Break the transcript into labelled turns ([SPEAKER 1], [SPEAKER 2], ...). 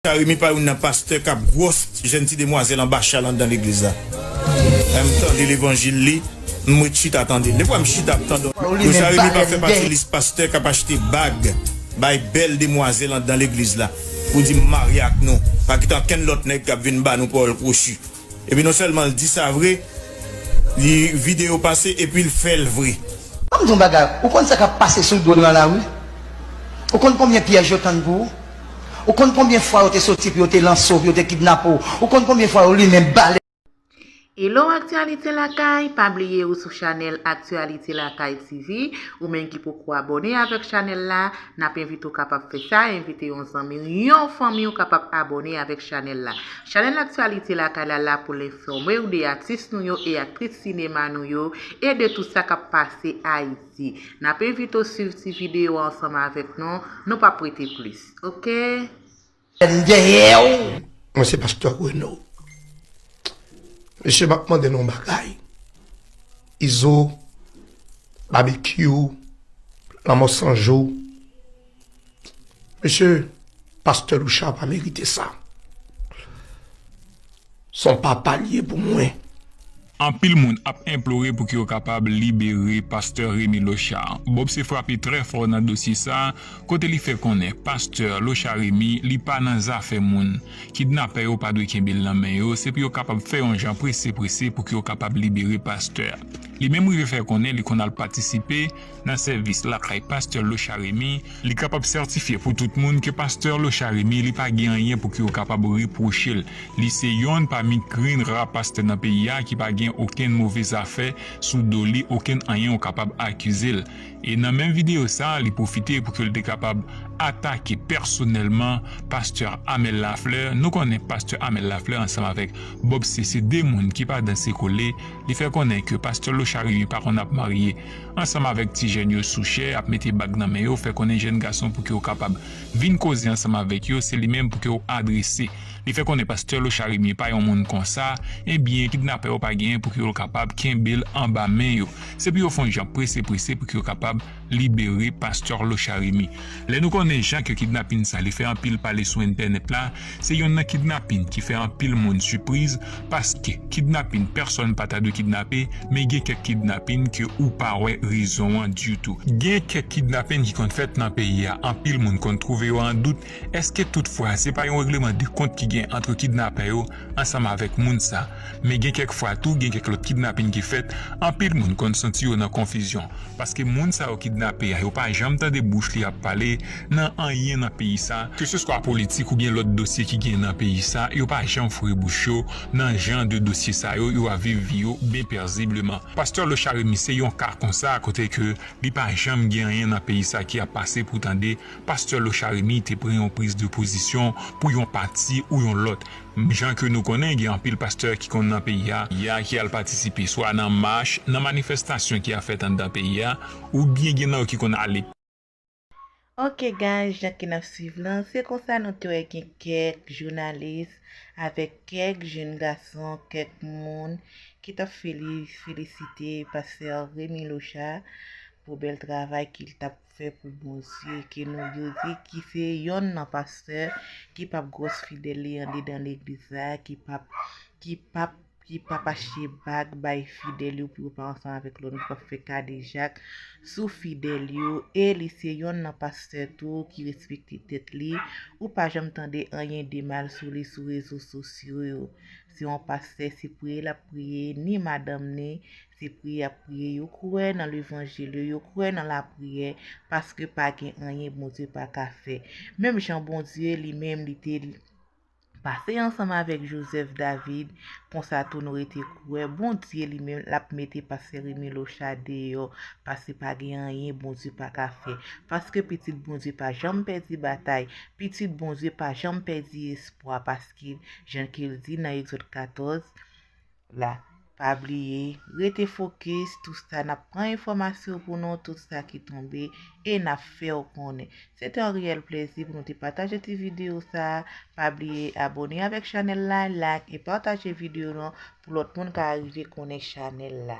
[SPEAKER 1] Carimi pa youn nan pastè kap gwòs jèn ti demwazèl anba chal anndan legliz la lè m tande levanjil li m ret chita tandel de fwa m chita ap tandel don Carimi pa fè pati lis pastè kap achte bag bay bèl demwazèl anndan legliz la pou di m marye ak nou pa kite ankenn lòt nèg kap vin ba nou pawòl kwochi. Epi non sèlman l di sa vre, li vide yo pase epi l fè l vre. Banm di w yon bagay,
[SPEAKER 2] ou konn sa kap pase sou do nan lari? Ou konn konbyen pyèj yo tann pou ou? Ou konn konbyen fwa yo te soti pou yo te lanse w, pou yo te kidnape w? Ou konn konbyen fwa yo limen bal? Hello
[SPEAKER 3] Actualité Lakay, pa bliye ou sou chanèl Actualité Lakay TV, ou menm ki poko abòne avèk chanèl la, N ap envite w kapab fè sa, envite yon zanmi w, yon fanmi w kapab abòne avèk chanèl la. Chanèl Aktyalite Lakay la la pou l enfòme w de atis nou yo e aktris sinema nou yo e de tout sa k ap pase Ayiti. N ap envite w swiv ti videyo a ansanm avèk nou, nou p ap rete plis. Ok! M dèyè w
[SPEAKER 2] Mwen se pastè Reno Mesye map mande nou yon bagay Izo Babekyou Lanmò san jou Mesye pastè Louchard pa merite sa Son papa li ye pou mwen. Anpil
[SPEAKER 4] moun ap enplore pouki yo kapab libere pastè Remy Lochard. Bob se frape trè fò nan dosye sa kote li fè konnen pastè Lochard Remy li pa nan zafè moun, kidnapè yo pa dwe kenbe l nan men yo, se pou yo kapab fè yon jan prese prese pouki yo kapab libere pastè a. Li menm rive fè konnen li konn al patisipe. nan sèvis lakay pastè Locha Remy, li kapab sètifye pou tout moun ke pastè Locha Remy li pa gen anyen pou ki yo kapab repwoche l, li se yonn pami grenn ra pastè nan peyi a ki pa gen okenn move zafè sou do li okenn anyen yo kapab akize l e nan menm videyo sa li pwofite pou ke l te kapab atake pèsonèlman pastè Amel Lafleur, nou konnen pastè Amel Lafleur ansanm avèk Bob se se 2 moun ki pa danse kole, li fè konnen ke pastè Locha Remy pa konn ap marye. ansanm avèk ti jèn yo sou chè ap mete bag nan men yo fè konnen jèn gason pouki ou kapab vin koze ansanm avèk yo se li menm pouki ou adrese li fè konnen pastè Locharimier pa yon moun konsa ebyen kidnapè yo pa genyen pouki yo kapab kenbel anba men yo se pou yo fon jan prese prese pouki yo kapab libere pastè Locharimi. Lè nou konnen jan ke kidnapin sa li fè anpil pale sou entènèt la, se yonn nan kidnapin ki fè anpil moun sipriz, paske kidnapin pèsòn pa ta dwe kidnape, men gen kèk kidnapin ke ou pa wè rezon an ditou. Gen kèk kidnapin ki konn fèt nan peyi a, anpil moun konn twouve yo an dout, èske tout fwa se pa yon regleman de kont ki gen antre kidnapè yo, ansanm avèk moun sa. Men gen kèk fwa tou gen kèk lòt kidnapin ki fèt, anpil moun konn santi yo nan konfizyon, paske moun sa yo kidnape a yo pa janm tande bouch li ap pale nan anyen nan peyi sa, keseswa politik oubyen lòt dosye ki gen nan peyi sa, yo pa janm foure bouch yo nan jan de dosye sa yo, yo ap viv vi yo byen pèzibleman. Pastè Locharie Mille se yon ka konsa kote ke li pa janm gen anyen nan peyi sa ki ap pase pou tande Pastè Locharimi te pran yon priz de pozisyon pou yon pati ou yon lòt. Mnm jan ke nou konnen gen anpil pastè ki konn nan peyi a ya ki al patisipe swa nan mach, nan manifestasyon ki a fèt anndan peyi a ou byen gen nan yo ki konn ale.
[SPEAKER 3] Ok guys jan ke nap swiv lan se konsa nou te wè gen kèk jounalis avèk kèk jenn gason kèk moun ki tap feli felisite pastè Remi Locha pou bèl travay ki l tap Fè pou Bondye ke nou youri ki se yonn nan pastè ki pap gwòs fidèl li andedan legliz la ki pap ki pap ki pap achte bag bay fidèl yo pou yo pa ansanm avèk lòt moun ki pap fè kadejak sou fidèl yo e li se yonn nan pastè tou ki respekte tèt li ou pa janm tande anyen de mal sou li sou rezo sosyo yo se yon pastè se priye lap priye ni madanm ni Se priye yap priye yo kwè nan levanjil yo yo kwè nan la priyè paske pa gen anyen Bondye pa ka fè menm jan Bondye li menm li te pase ansanm avèk Joseph David konsa tou nou rete kwè Bondye li menm lap mete pastè Remy Locha deyò paske pa gen anyen Bondye pa ka fè paske pitit Bondye pa janm pèdi batay pitit Bondye pa janm pèdi espwa paske jan kel di nan Exode 14 la. Pa bliye, rete fokis, tout sa nap pran enfòmasyon pou nou, tout sa ki tonbe e nap fèw konnen. Se te yon reyèl plezi pou nou te pataje ti video sa, pa bliye abone avèk chanèl la, like e pataje video nou pou lòt moun ka arive konnen chanèl la.